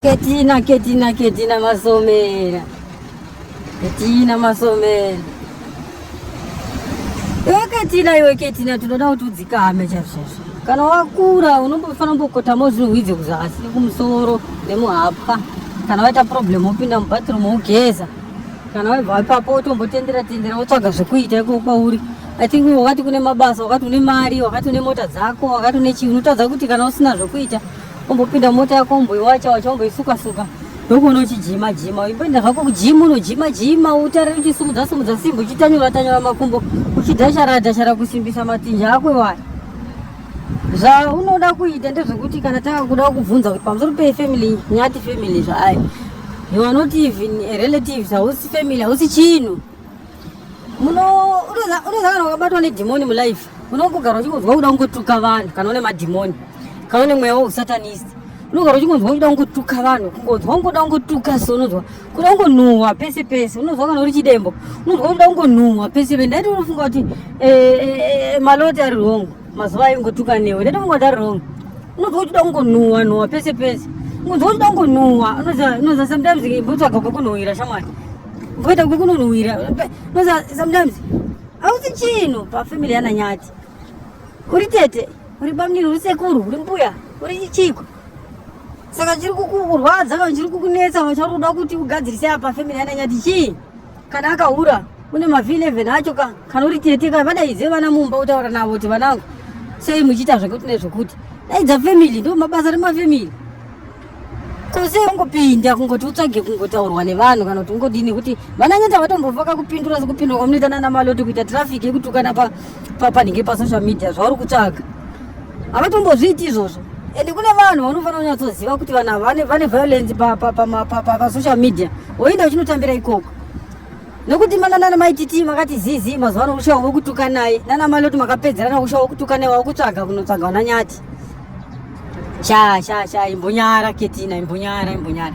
Ketina, Ketina, Ketina Masomera. Ketina Masomera. Iwe Ketina, iwe Ketina, tinoda kuti udzikame chazvazvo. Kana wakura unombofanira kumbokotama uzvihwidze kuzasi kumusoro nemuhapwa. Kana waita problem wopinda mubathroom wogeza. Kana wabva ipapo wotombotendera tendera wotsvaga zvekuita ikoko kwauri. I think wakati kune mabasa, wakati une mari, wakati une mota dzako, wakati une chii, unotadza kuti kana usina zvekuita Umbopinda mota yako umboiwacha wacha umboisuka suka ndokuona uchijima jima uimboenda zvako kujima unojima jima utarire uchisimudza simudza simba uchitanyura tanyura makumbo uchidhashara dhashara kusimbisa matinja ako iwaya zvaunoda kuita ndezvekuti kana takakuda kubvunza kuti pamusoro pefamily nyati family zvaayo you are not even a relative hausi family hausi chinhu unozangana wakabatwa nedhimoni mulife unongogara uchingonzwa kuda kungotuka vanhu kana une madhimoni kana une mweya weusatanist unogara uchingonzwa kuda kungotuka vanhu kungonzwa kungoda kungotuka so unonzwa kuda kungonhuhwa pese pese unonzwa kana uri chidembo unonzwa kuda kungonhuhwa pese pese ndaiti unofunga kuti eh, eh, eh, maloti ari wrong mazuva ayo ngotuka newe ndaiti unofunga kuti ari wrong unonzwa uchida kungonhuhwa nhuhwa pese pese unonzwa uchida kungonhuhwa unoza sometimes mbotsvaga kwekunhuhwira shamwari Ngoita kukununuvira. No sometimes hausi chinhu pafamily yana nyati. Uri tete, uri bamnini, uri sekuru, uri mbuya, uri chiko. Saka chiri kukurwadza kana chiri kukunetsa kana chiri kuda kuti ugadzirise apa family yana nyati chii? Kana akahura une mavhi 11 acho ka kana uri tete ka vadaidze vana mumba utaura navo kuti vanangu sei muchiita zvekuti nezvekuti daidza family ndo mabasa remafamily kose ungopinda kungoti utsvage kungotaurwa nevanhu kana kuti ungodii nekuti vananyata vatombovaka kupindura sekupindura kwamunoita nana maloti kuita traffic yekutukana panenge pasocial media zvauri kutsvaga havatombozviiti izvozvo ende kune vanhu vanofanira kunyatsoziva kuti vanhu vane violence pasocial media woenda uchinotambira ikoko nokuti mana nana mai titi makati zizi mazuva ano kushava vokutuka naye nana mai loti makapedzerana kushava vokutuka naye wakutsvaga kunotsvaga vana nyati sha sha sha imbonyara ketina imbonyara imbonyara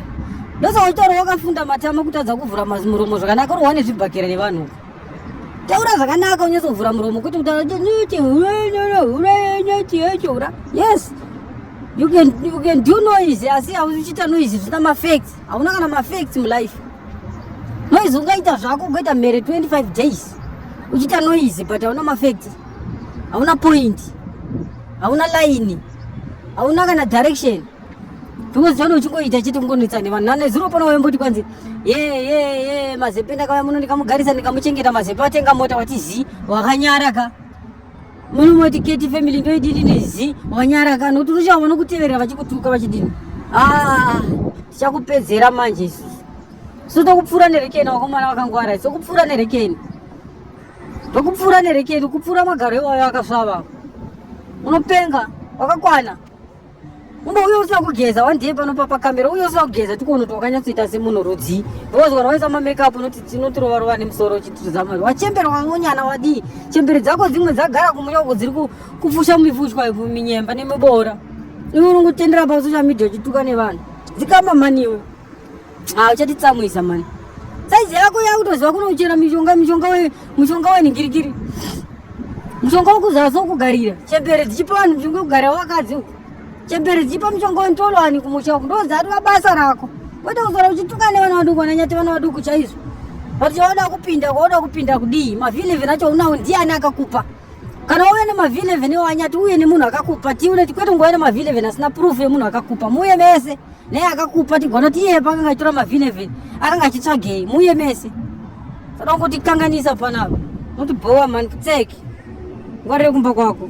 ndosaka uchitaura wakafunda matama kutadza kuvhura muromo zvakanaka uri wane zvibhakera nevanhu taura zvakanaka unyatsovhura muromo kuti kutauraura yes you can, you can do noise asi hauchita noise zvisina mafacts hauna kana mafacts mulife noizi ungaita zvako ugoita mhere 25 days uchiita noizi but hauna mafekti hauna point hauna laini hauna kana direction because chano uchingoita chete kungonetsa nevanhu nane zuro pano waimboti kwanzi ye ye ye mazepe ndakauya muno ndikamugarisa ndikamuchengeta mazepe watenga mota wati zii wakanyara ka munomoti keti family ndoidini nizi wanyara kana kuti uchaona nokuteverera vachikutuka vachidini ah, tichakupedzera manje isusu so tokupfuura nerekeni wakomana vakangwara tokupfuura nerekeni tokupfuura nerekeni kupfuura magaro iwayo akasvava unopenga wakakwana Kumba uyo usina kugeza one day pano papa camera uyo usina kugeza tikuona kuti wakanyatsoita semunhu rudzii because kana waisa mamakeup unoti tinotirova rova nemusoro uchitiridza mari wachembera wangonyana wadii chembere dzako dzimwe dzagara kumunya uko dziri kupfusha mifushwa minyemba nemiboora iwe unongotendera pasocial media uchituka nevanhu dzikamba mhani iwe Ah, uchatitsamwisa mani. Saizi yako yakutoziva kunochera mishonga mishonga we mishonga we ningirikiri. Mishonga wekuzaza kugarira. Chembere dzichipa vanhu mishonga yekugarira wakadzi. Chembere dzichipa mishonga wentolo ani kumusha uko. Ndozi atwa basa rako. Kwete kuzora uchituka nevana vaduku vananyati vana vaduku chaizvo. Vati chaoda kupinda kwaoda kupinda kudii. Mavhile vinacho unawo ndiani akakupa. Kana uye ne mavhile vene wanyati uye ne munhu akakupa. Tiune kwete ngwa ne mavhile vene asina proof ye munhu akakupa. Muye mese. naye akakupa tigona kuti iye pakanga achitora mavhinevheni akanga achitsvagei muye mese saka ungotikanganisa panapa unotibhowa mani kutseki ngwarire kumba kwako